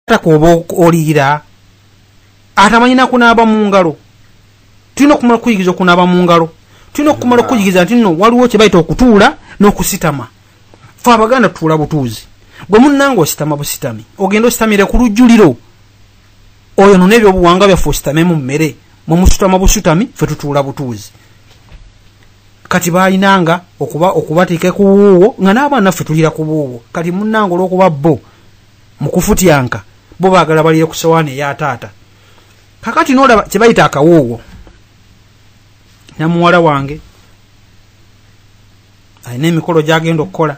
takuba oliira atamanyi nakunaaba mu ngalo tulina okumala okuyigiriza okunaaba mu ngalo tulina okumala okuyigiriza nti no waliwo kyebayita okutuula n'okusitama fe abaganda tuula butuuzi gwe munnanga ositama busitami ogenda ositamire ku lujjuliro oyo nona ebyobuwanga byaffe ositame mu mmere mwe musutama busutami fe tutuula butuuzi kati balinanga okuba okubateeka ku wuuwo nga n'abaana ffe tulira ku buuwo kati munnanga olw'okuba bo mu kufutyanka bo baagala balire ku sowaani eya taata kakati noolaba kye bayita akawuuwo namuwala wange alina emikolo gy'agenda okukola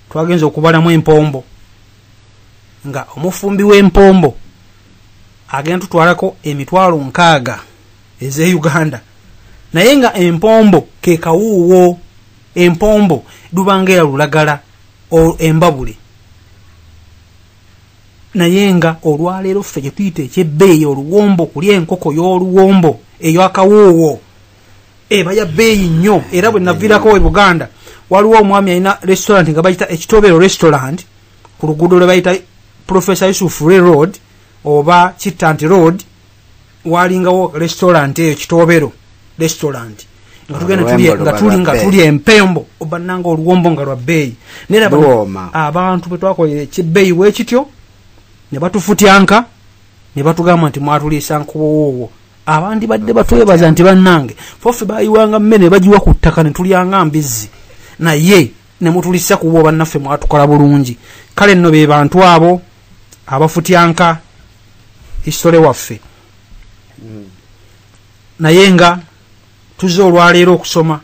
twagenza okubalamu empombo nga omufumbi w'empombo agenda tutwalako emitwalo nkaaga eze uganda naye nga empombo kekawuuwo empombo lubanga era lulagala embabule naye nga olwaleero ffe gyetuyita ekyebbeeyi oluwombo kulya enkoko y'oluwombo eyo akawuuwo eba ya beeyi nnyo era bwe naviirako e buganda waliwo omwami alina restaurant nga bayita ekitobero restaurant ku luguudo lwe bayita professor yusuf re road oba kittant road walingawo restaurant eyo kitobero restaurant nga tugenda tuli nga tuli nga tuli empembo obananga oluwombo nga lwa beeyi nera abantu bwe twakolera ekibeeyi wekityo ne batufutyanka ne batugamba nti mwatuliisa nkuwowoowo abandibadde batwebaza nti bannange fofe bayiwanga mmere ne bagiwa ku ttaka ne tulyanga mbizzi naye ne mutulisa kuba obannaffe mwatukola bulungi kale nno be bantu abo abafutyanka hisitole waffe hmm. naye nga tuzze olwaleero okusoma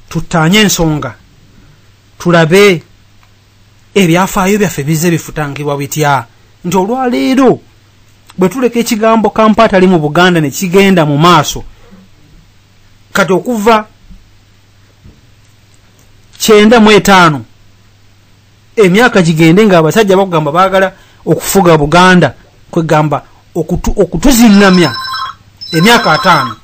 tuttaanye ensonga tulabe ebyafaayo byaffe bizze bifutangibwa bitya nti olwaleero bwe tuleka ekigambo kampa atali mu buganda ne kigenda mu maaso kati okuva kyenda mu etaano emyaka gigende nga abasajja bakugamba baagala okufuga buganda kwegamba okutuzingamya emyaka ataano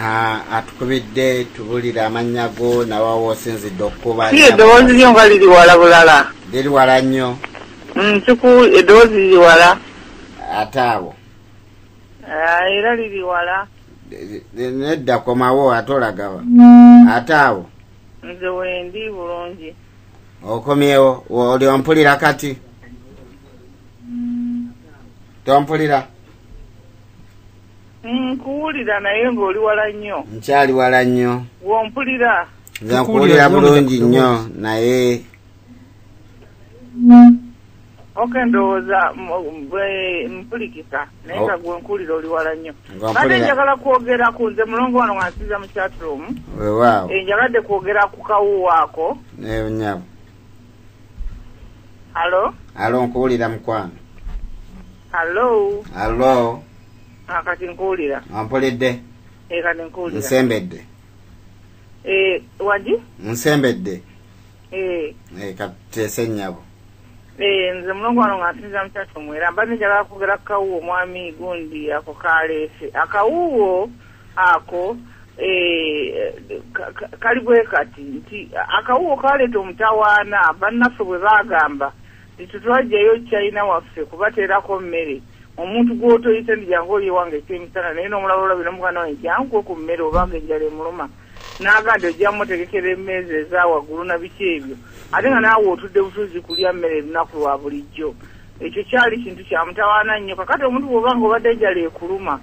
Ah, atukubidde tubulire amannya go nawa wosinzidde okukuba si eddoboozi lyo nga liri wala bulala liri wala nnyo mm, siku eddoboozi liri wala ate awo ah, era liri wala nedda komawo ate olagawa mm. ate awo nze wendi bulungi okomyewo oli ompulira kati mm. tompulira nkuwulira naye ng'oli wala nnyo nkyali wala nnyo wompulira nze nkuwulira bulungi nnyo naye oke ndowooza mpulikisa naye nga oh. gwe nkuwulira oli wala nnyo kate njagala kwogera ku nze mulongo wano wansiza mu chatroom eh, njagadde kwogera ku kawuwaako eh, nyabo Alo. Alo nkuwulira mukwano. Alo. Alo. Akati ah, nkuwulira. Ampulidde. Ah, e eh, kati nkuwulira. Nsembedde. E eh, wadi? Nsembedde. E. Eh. E katese nyabo. E nze mulongo wano nga nsinza mutatu mwera. Mbadde njagala kugera kawuwo mwami gundi ako kaleese. Akawuwo. ako eh, kali bwe kati nti akawuwo kaleeta omutawaana bannaffe bwe baagamba nti tetwajjayo china waffe kubateerako mmere omuntu gwotoyise ndi jangu oli ewange ekyemisana naye nomulaba olabi nomuganda wange jankwe ku mmere obanga enjala emuluma naga nti ojja mutegekera emeeza eza waggulu na biki ebyo ate nga naawe otudde butuzi kulya mmere erunaku lwa bulijjo ekyo kyali kintu kyamutawaana nnyo kakati omuntu bwobanga obadde enjala ekuluma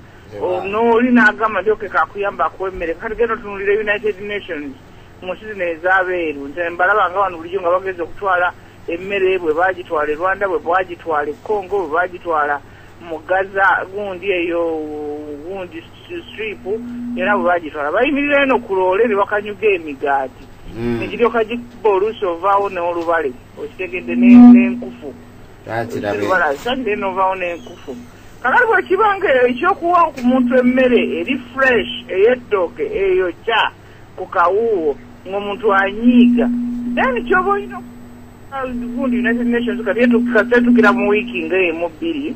nooli n'agamba nti okeka akuyamba akuwa emmere kati genda otunulira united nations mu nsi zino ez'abeeru nti mbalaba nga wano bulijjo nga bageza okutwala emmere bwe bagitwala e rwanda bwe bagitwala e congo bwe bagitwala mu gaza gundi eyo gundi strip yona bwe bagitwala bayimirira eno ku loole ne bakanyuga emigaati hmm. nekiryoka gikuba oluusi ovaawo n'olubale okitegedde n'enkufu lwakirabebalaza ndenovaawo n'enkufu kakati bwekiba nga ekyokuwa ku muntu emmere eri fresh ey'eddooke eyo kya ku kawuuwo ng'omuntu anyiiga then kyoba olina gundi united nations kati etukira mu wiiki nga emu bbiri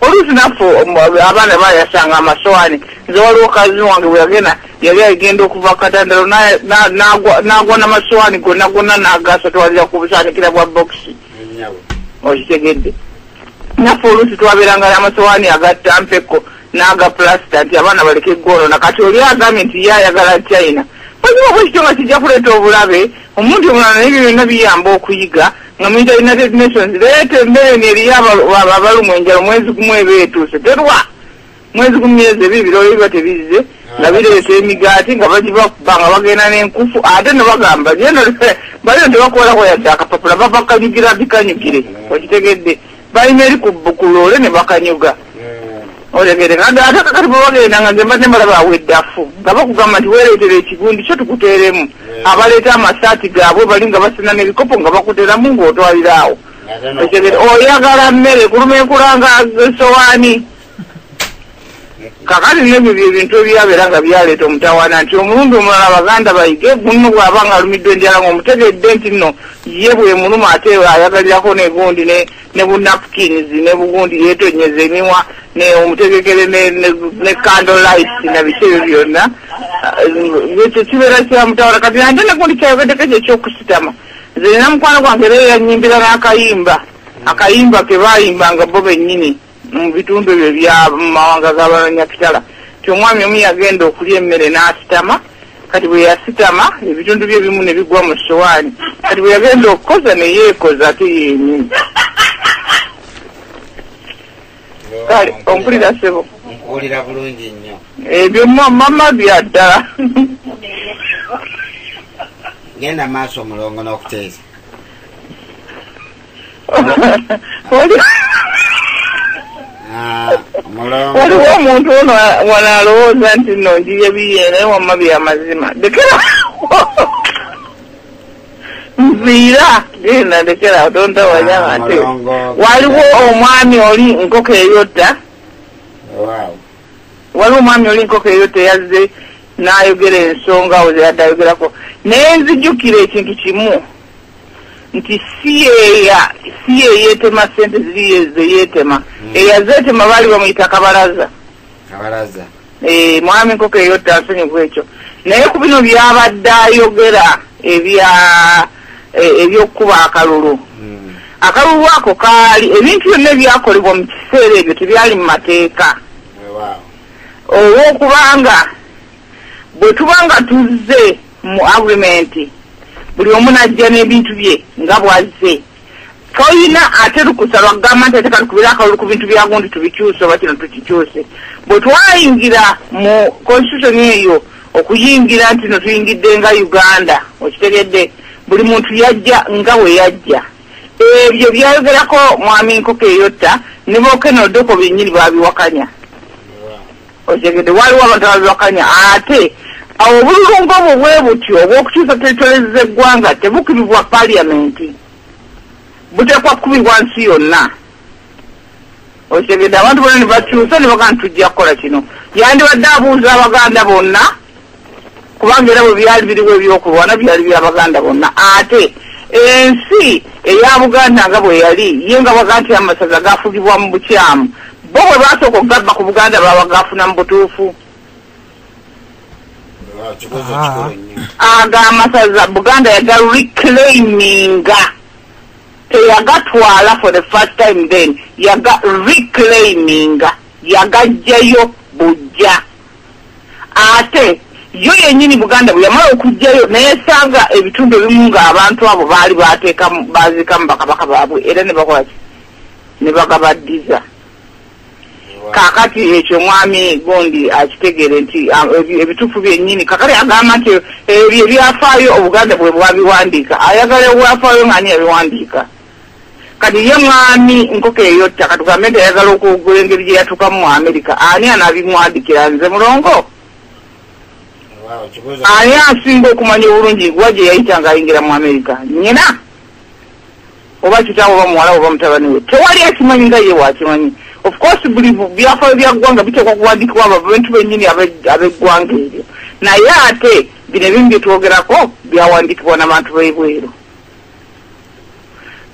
oluusi naffe um, abaana bayasanga amasowaani nze waliwo kazi wange bweyagenda yali agenda okuva katandalo n'agwa namasowaani gonna gonna n'agasatwalira ku busaanikira bwa bokisi okitegedde naffe oluusi twabeeranga n'amasowaani agattampeko n'aga pulasita nti abaana baleke eggwoonona kati oli agambye nti ye ayagala china oziba bwekityo nga kijja kuleeta obulabe omuntu omulala naye byo byonna biyamba okuyiga nga muyita united nations leeta emmere ni eriyo abalumwa enjala mwezi gumu eba etuuse terwa mwezi gumu myezi ebiri birooyo biba tebizze nga ah. bireeta emigaati nga bagibakuba nga bagenda n'enkufu ate ne bagamba baliyo tebakolako yadde akapapula babakanyugira bikanyugire okitegedde balina eri ku loole ne bakanyuga olegere nga ate kakati bwe bagenda nga nze mbadde mbalaba awo eddafu nga bakugamba nti weereetera ekigundi kyo tukuteeremu abaleeta amasaati gaabwe bali nga basina n'ebikopo nga bakuteramu ng'otwaliraawo otegere oyagala mmere kuluma enkulanga esowaani kakati nebyo byebintu ebyabeera nga byaleeta omutawaana nti omulundi omulala abaganda bayige gunno bwaba nga alumiddwa enjala nga omutegedde nti nno ye bwemuluma ate ayagalirako negundi ne bunapkins ne bugundi yetonyeza emiwa omutegekere ne candle light nabiki ebyo byonna eh, ekyo kibeera kyamutawaana kati ante negundi kyayogeddeko ekyo ekyokusitama nze nina mukwano gwange era yanyimbira n'akayimba akayimba ke bayimbanga bo bennyini mu bitundu ebyo bya mu mawanga g'abanyakitala nti omwami omu yagenda okulya emmere n'asitama kati bwe yasitama ebitundu bye bimu ne bigwa mu sowaani kati bwe yagenda okukoza ne yeekoza ate yenyini kale ompulira sebo nkuwulira bulungi nnyo ebyo mama bya ddala genda maaso omulongo n'okuteesa Ah, waliwo omuntu ono wano alowooza nti no njiye biye naye wamma byamazima dekera nviira genda ndekera otonda wanyama ah, nti waliwo omwami oli nkoko eyotta waliwo omwami oli nkoko eyotta yazze n'ayogera ensonga oze yadde ayogerako naye nzijukira ekintu kimu nti siyeya siyeyetema sente ziriye zeyetema hmm. eyazetema baali bamuyita kabalaza kabalaza eh, mwami nkoko eyotta nsonyi ku ekyo naye ku bino byabadde ayogera ebya e, ebyokukuba akalulu hmm. akalulu ako kaali ebintu byonna ebyakolebwa mu kiseera ebyo tebyali mu mateeka olwokubanga bwe tuba nga tuzze mu agreement buli omu najja n'ebintu bye nga bwazze toyina ate lukusa lwakugamba nti ate katukubira akalulu ku bintu byagundi tubikyuse oba kino tukikyuse bwe twayingira mu constitution eyo okuyingira nti no tuyingidde nga uganda okitegedde buli muntu yajja nga bwe yajja ebyo byayogerako mwami nkoko eyotta ne bokenodoko byennyini babiwakanya otegede waliwo abantu ababibakanya ate awo obululu ng'obwo bwe butyo obw'okukyusa teritories z'eggwanga tebukiribwa paliamenti buteekwa kukubibwa nsi yonna otegede abantu bona ne bakyusa ne bagana tujja kukola kino yandibadde abuuza abaganda bonna kubanga era bwe byali biriwo ebyokulwana byali bya baganda bonna ate ensi eya buganda nga bwe yali ye nga baga nti amasaza gafugibwa mu bukyamu bo bwe basooka okugabba ku buganda babagafuna mu butuufu ah, ago amasaza buganda yaga reclaiminga teyagatwala for the first time then yaga reclaiminga yagajjayo bujja ate yo yennyini buganda bwe yamala okujjayo neyesanga ebitundu ebimu nga abantu abo baali bateekamu baziikamu bakabaka baabwe era ne bakola ki ne bagabaddiza kakati ekyo omwami gundi akitegeere nti ebituufu byennyini kakati agamba nti ebyo ebyafaayo obuganda bwe bwabiwandiika ayagala obwafaayo ng'ani yabiwandiika kati ye mwami nkoko eyotta katugambe nti ayagala okwogula engeri gye yatukamu mu amerika ani anabimwadikira nze mulongo ani asinga okumanya obulungi wa gye yayita nga ayingira mu amerika nyina oba kitawo oba muwala oba mutabani we tewali akimanyi nga ye wakimanyi ofcourse buli byafaayo bya ggwanga biteekwa kuwandikibwa abantu bennyini ab'eggwanga eryo naye ate bino ebimu byetwogerako byawandikibwa nabantu b'ebweru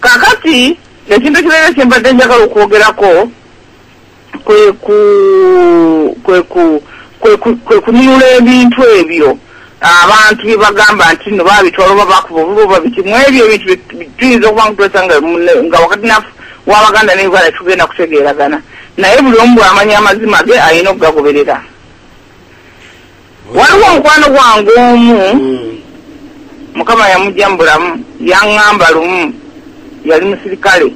kakati ekintu ekirala kyembadde njagala okwogerako kweku kweku kwekununula ebintu ebyo abantu byebagamba nti no babitwala oba bakuba obuba oba biki mu ebyo ebintu tuyinza okuba nga twesanga nga wakati nafu wabaganda ne uganda tugenda kutegeeragana naye buli omu bwamanya amazima ge alina okugagoberera waliwo omukwano gwange omu hmm. mukama yamujja mu bulamu yaŋŋamba lumu yali musirikale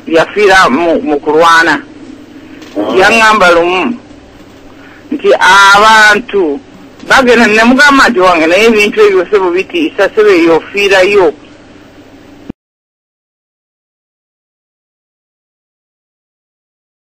yafiira mu kulwana ah. yaŋŋamba lumu nti abantu bagenda nemugamba nti wange naye ebintu ebyo sebo bitiisa sebo eyo ofiirayo